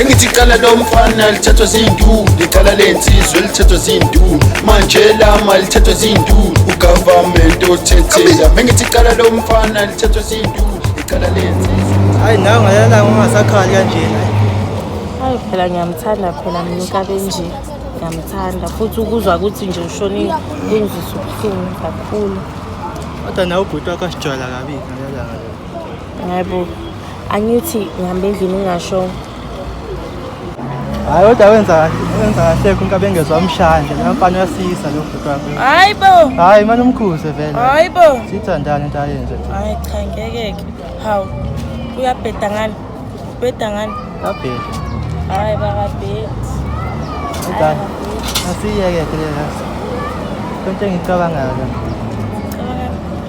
engithi iqala lomfana lithethwa ziyinduku liqala lensizwe lithethwa ziyinduku manje lama lithethwa ziyinduku ugovernment othethela mengithi iqala lomfana lithethwa ziyinduku liqala lensizwe hayi nawe ngalala ungasakhali kanjena hayi phela ngiyamthanda phela mina ukabenje ngiyamthanda futhi ukuzwa ukuthi nje ushonile kungizisa ubuhlungu kakhulu kodwa nawe ubhuti wakho asijwayela kabi ngalala Hayibo. Angithi ngihambe endlini ngingasho. Hayi kodwa wenza wenza kahle kunka bengezwa umshanje la mfana uyasisa lo bhuti wakho. Hayibo. Hayi manje umkhuze vele. Hayibo. Sithandane into ayenze. Hayi cha ngeke ke. Hawu. Uyabheda ngani? Ubheda ngani? Abheda. Hayi bakabhedi. Udala. Asiyeke ke lezi. Konke engicabangayo. Cabanga.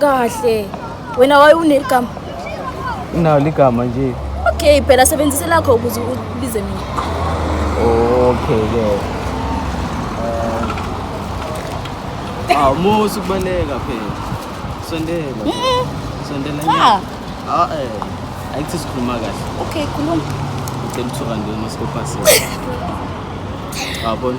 kahle wena waye unegama unayo ligama nje okay phela sebenzise lakho ukuze ubize mina okay ke eh, awu musu kubaleka phela sondela sondela ah. ah eh ayithi sikhuluma kahle okay khuluma ngicela uthuka nje uma sikopasile wabona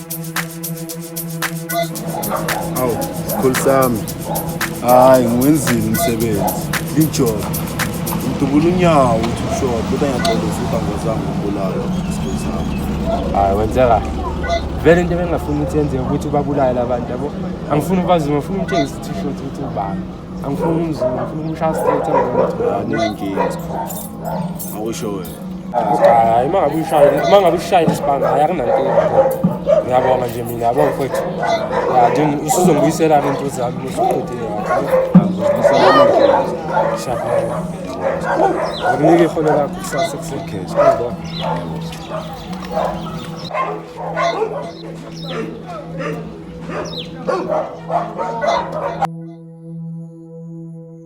Awu, sikhulu sami. Hayi, ngiwenzile umsebenzi. Lijoba. Ngidubula unyawo ukuthi ushona, kodwa ngiyaxolisa ukuthi angozange ukubulala sikhulu sami. Hayi, wenze kahle. Vele into ebengingafuni ukuthi yenzeke ukuthi ubabulale abantu yabo. Angifuni ubazume, ngifuna umtshengise ukuthi usho ukuthi ubani. Angifuni umzume, ngifuna umshaya straight angibone ukuthi ubani. Awunankinga sikhulu. Awusho wena. hayi uma ngabe ushayile uma ngabe ushayile isibanga hayi akunankinga ngiyabonga nje mina yabo mfethu ya nje usuzongibuyisela into zami musuqedile shaphela ngikunike iholo lakho kusasa kusekhezo Oh!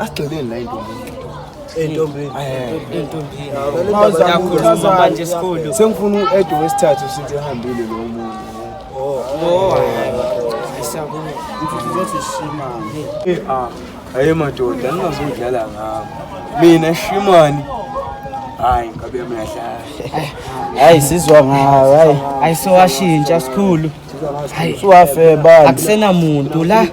Asigxileni la intombi. Entombini. Entombini. Uyakhuluma manje esikhulu. Sengifuna u-Edo wesithathu sithi ehambile lo muntu. Oh. Oh. Isabuni. Uzothi shimani. Eh ah. Hayi madoda, ningazodlala ngami. Mina shimani. Hayi, ngabe mina dlala. Hayi sizwa ngawe. Hayi. Ayisowashintsha sikhulu. suwafebani akusenamuntu la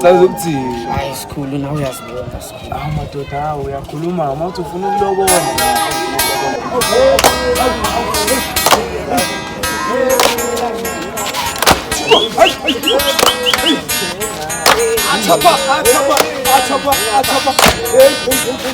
caza ukuthini hayi sikhulu nawe uyazibona sikhulu awu madoda awu uyakhuluma uma uthi ufuna ukulobola Atapa, atapa, atapa, atapa.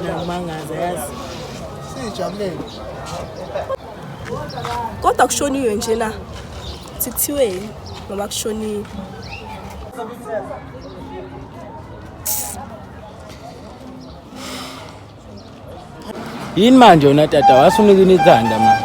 Ngiyakumangaza yazi. Sijabulele. Kodwa kushoniwe nje na? Sithiweni ngoba kushoniwe. Yini manje wena tata wasunika inithanda manje?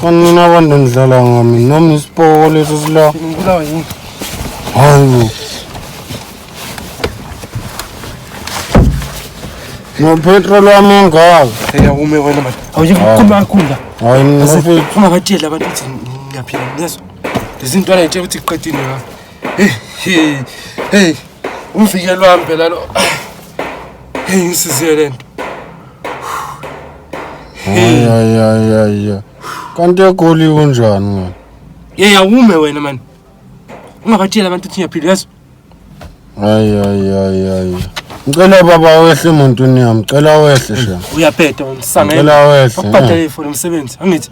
Kanina abantu nidlala ngami noma isipoko leso sila. Ngibulawa yini? Hayibo. Nopetrol wami ungaka. Eyawume wena manje. Awuye kukhuluma kakhulu la. Hayi mina mfethu. Uma ngatshela abantu ukuthi ngiyaphila ngiyezwa. Lezi ntwana ngitshela ukuthi iqedile la. Hey, hey, hey. Umvikelo wami phela lo. Hey, ngisize lento. Hey. Ay ay ay ay. Kanti egoli kunjani wena? Yey awume wena man. Ungabatshela abantu ukuthi ngiyaphila yazi. Ay ay ay ay. Ngicela baba wehle emuntwini yami, ngicela wehle shem. Uyabheda wena sangela. Ngicela wehle. Akubhadale for umsebenzi angithi.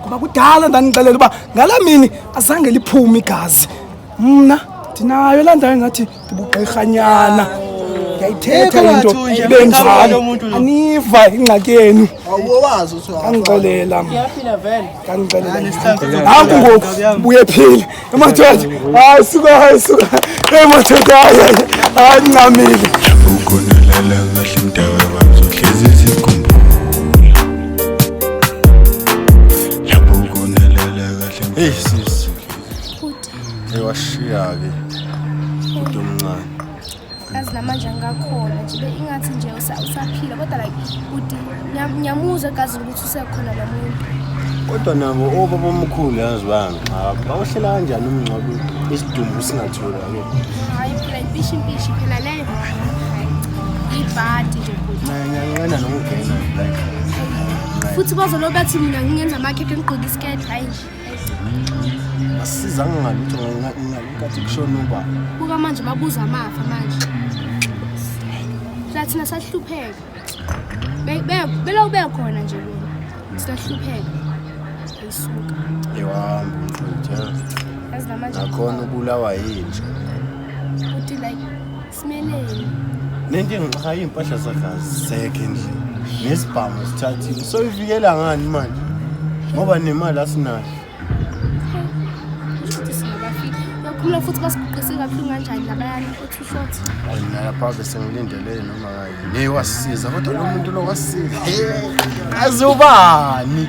ngoba kudala ndanixelela uba ngala mini azange liphume igazi mna ndinayo laa ndawo engathi ndibugqirhanyana ndiyayithetha into ibenjalo aniva ingxaki yenu ndandixelela ndandixelela nanku ngoku buye phile Madoda, hayi suka, hayi suka. Hey madoda, hayi hayi ngamile. Ukhona lala kahle mdaka bazohlezi sikhumbula. Lapho ukhona lala kahle. Hey sis. Hey washiya ke. Umuntu omncane. kazi namanje angakhona nje ingathi nje usaphila kodwa like uthi ngiyamuzwa egazini ukuthi usekhona lo muntu kodwa nabo obaba omkhulu yazi bami bawuhlela kanjani umngcwabo isidumbu singatholakali hayi phela impishi impishi phela leyo ibhadi nje ngiyanqena nokugena like futhi bazolobe athi mina ngingenza amakhekhe ngigqoke isiketi hayi nje asiza ngalutho ngalikathi kushona uba buka manje babuza amafa manje thina sahlupheka belokhu bekhona nje bona sahlupheka ayisuka yewahamba umfutha akhona ubulawa yinja futhi like Simeleni. Nenkinga cha impahla zakazi sekhe nje. Nesibhamu sithathile. So ivikela ngani manje? Ngoba nemali asinayo. Khula futhi basiguqise kabuhlungu kanjani labayana othi short. Wena lapha bese ngilindele noma ngayi. Ngeke wasisiza kodwa lo muntu lo wasisiza. Azubani?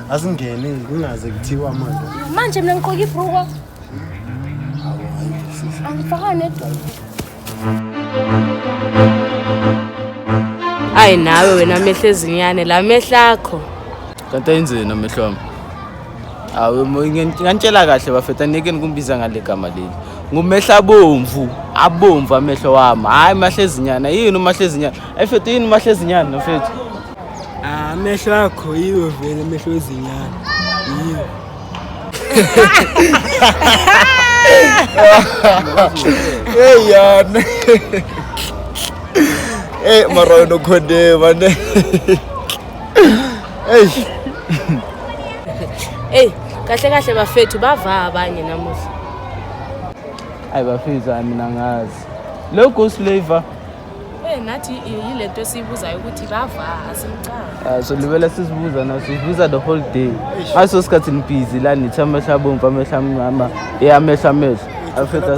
Asingene kungaze kuthiwa manje. Manje mina ngiqoka ibruko. Angifaka nedolo. Ayi nawe wena amehlo ezinyane la mehlo akho. Kanti ayenzeni amehlo wami? Awu ngantshela kahle bafethu angeke nikumbiza ngale gama leli. Ngumehla abomvu, abomvu amehlo wami. Hayi mahlezinyana, yini umahlezinyana? Ayifethu yini umahlezinyana mfethu? Ah, amehlo akho yiwo vele amehlo ezinyane. Yiwo. Hey yana. Hey mara wena ukhonde mane. Hey. Hey, kahle kahle bafethu bavaa abanye namuhla. Ayi bafethu mina ngazi. Lo ghost flavor Eh nathi yilento esiyibuzayo ukuthi bava asimcanga. Ah so libele sizibuza na sizibuza the whole day. Aso sikhathi nibhizi la nithi amehla bomvu amehla amnyama eh amehla amehla. Afetha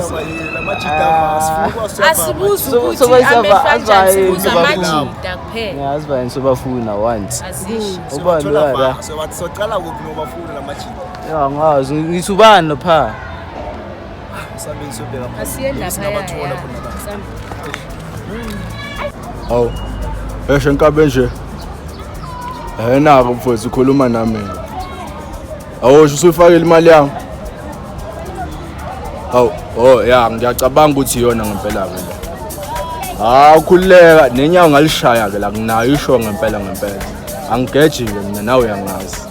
asibuzi ukuthi amehla njani sibuza amajita kuphela. Ngiyazi bayini sobafuna once. Azishi. Ubani la? So bathi socala kuphi nobafuna lamajita? Ya ngazi ngithi ubani lo pha? awu esho nkabe nje ayena-ke mfowethu ukhuluma nami awusho usuyifakile imali yami awu o oh, ya ngiyacabanga ukuthi iyona ngempela-ke le hawu khululeka nenyawo ngalishaya-ke la nginayo isho ngempela ngempela angigeji-ke mina nawe uyangazi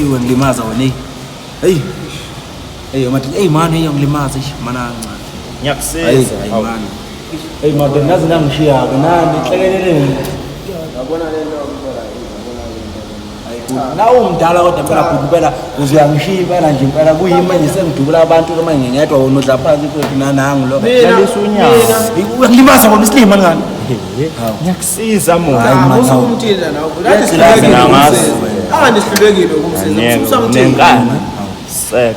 iwe ngilimaza wena eyi eyi eyi mathi eyi mani eyi ngilimaza ish mana kancane ngiyakusiza ayi mani eyi mathi ngaze nangishiya-ke nani hlekeleleni yabona le nto nawe umdala kodwa mpela bhuti impela uzuyangishiya impela nje impela kuyimi manje sengidubula abantu uma ngingedwa wona udla phansi futhi nanangu lo lalisa unyawo limaza kona isilima ngani ngiyakusiza mona usumthina nawe ngathi sihlulekile ukumsiza angihlulekile ukumsiza ususamthina nenkani sek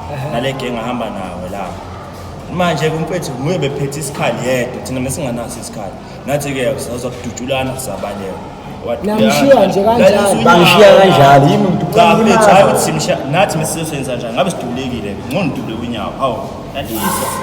nale genge ahamba nawe lapho manje kumfethu nguye bephethe isikhali yedwa thina mesinganaso isikhali nathi-ke sazokudutshulana sisabaleka namshiya nje kanjalo bamshiya kanjalo yimi mntu cha mfethu hayi ukuthi simshiya nathi mesizoswenza njani ngabe sidubulekile ngqo ndidubule kwinyawo hawu yalisa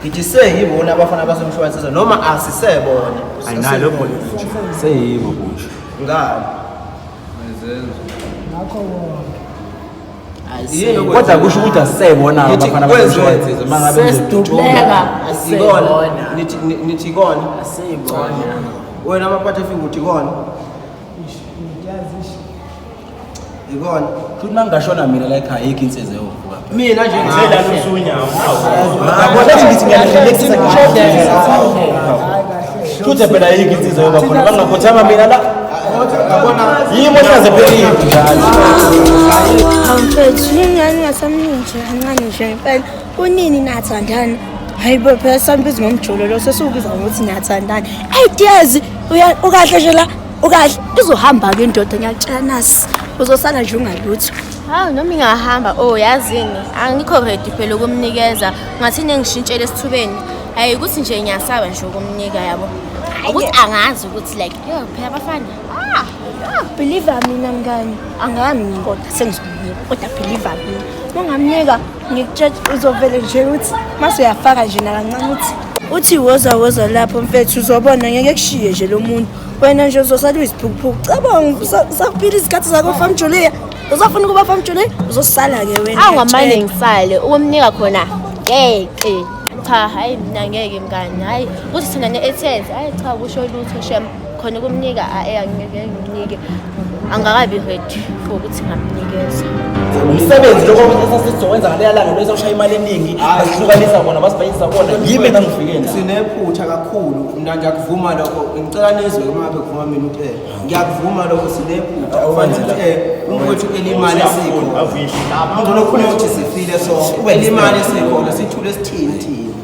Ngidise yibona abafana basemshwansisa noma asisebona. Ayinalo bona nje. Seyibo kusho. Ngani? Mayizenzo. Ngakho wonke. Ayisebo. Kodwa kusho ukuthi asisebona abafana basemshwansisa mangabe besidubeka asibona. Nithi nithi ikona. Asibona. Wena amaphathe fika uthi ikona. Yikona. Futhi mangashona mina la ekhaya yikho insizwe yovuka. Mina nje ngicela lusunya. Yabona ngithi ngiyalelisisa Futhi phela yikho insizwe yoba khona bangakhothama mina la. Yimo saze phelile. Awumfethu ingane yasamnini nje kancane nje impela. Kunini nathandana? hayi bo phela sambiza ngomjolo lo sesiwubiza ngokuthi niyathandana ideas ukahle nje la ukahle izohamba-ke indoda ngiyakutshela nasi uzosala nje ungalutho hawu noma ingahamba o oh, yazini angikho redi phela ukumnikeza ngathini engishintshele esithubeni hayi ukuthi nje ngiyasaba nje ukumnika yabo ukuthi angazi ukuthi like yo phela abafana ah, believe mina mngani angami kodwa sengizomnika kodwa believe mina ungamnika ngikutshela uzovele nje ukuthi mase uyafaka nje nakancane ukuthi uthi woza woza lapho mfethu uzobona ngeke kushiye nje lo muntu wena nje uzosala uyiziphukuphuku cabanga sakuphila izikhathi zakho famjulia uzofuna ukuba famjulia uzosala-ke wena awu ngamane ngisale ukumnika khona ngeke cha hayi mina ngeke mngani hayi kuthi thina ne-ethense hayi cha kusho lutho shem khona ukumnika ae angeke ngimnike angakabi ready for ukuthi ngamnikeza umsebenzi lokho esasizowenza ngaleya langa bese ushaya imali eningi basihlukanisa bona basibhayisa bona yimi engangifikeni sinephutha kakhulu Mina ngiyakuvuma lokho ngicela nizwe uma ngabe kuvuma mina ukuthi eh ngiyakuvuma lokho sinephutha ufanele ukuthi eh umfowethu elimali esikho ngcono khona ukuthi sifile so ube limali esikho sithule sithini thini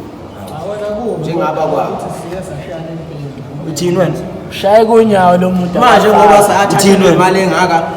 njengaba kwakho uthini wena shaye konyawo lo muntu manje ngoba sathi imali engaka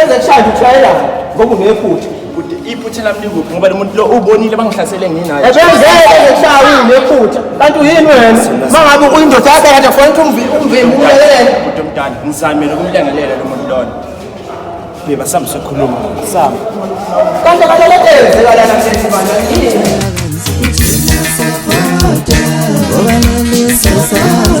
ezekushaya ushayela ngoba unephutha kude iphutha lami likuphi ngoba lomuntu lo ubonile bangihlasele nginayo ebenzeke ngishaya unephutha kanti uyini wena mangabe uyindoda yakhe kade kufanele ukuthi umvimbi umlekelele kude mdala ngizamile ukumlengelela lo muntu lona beba sambe sokhuluma sambe kanti kaleletenze kalana msethi bana yini Ngoba nami sasazana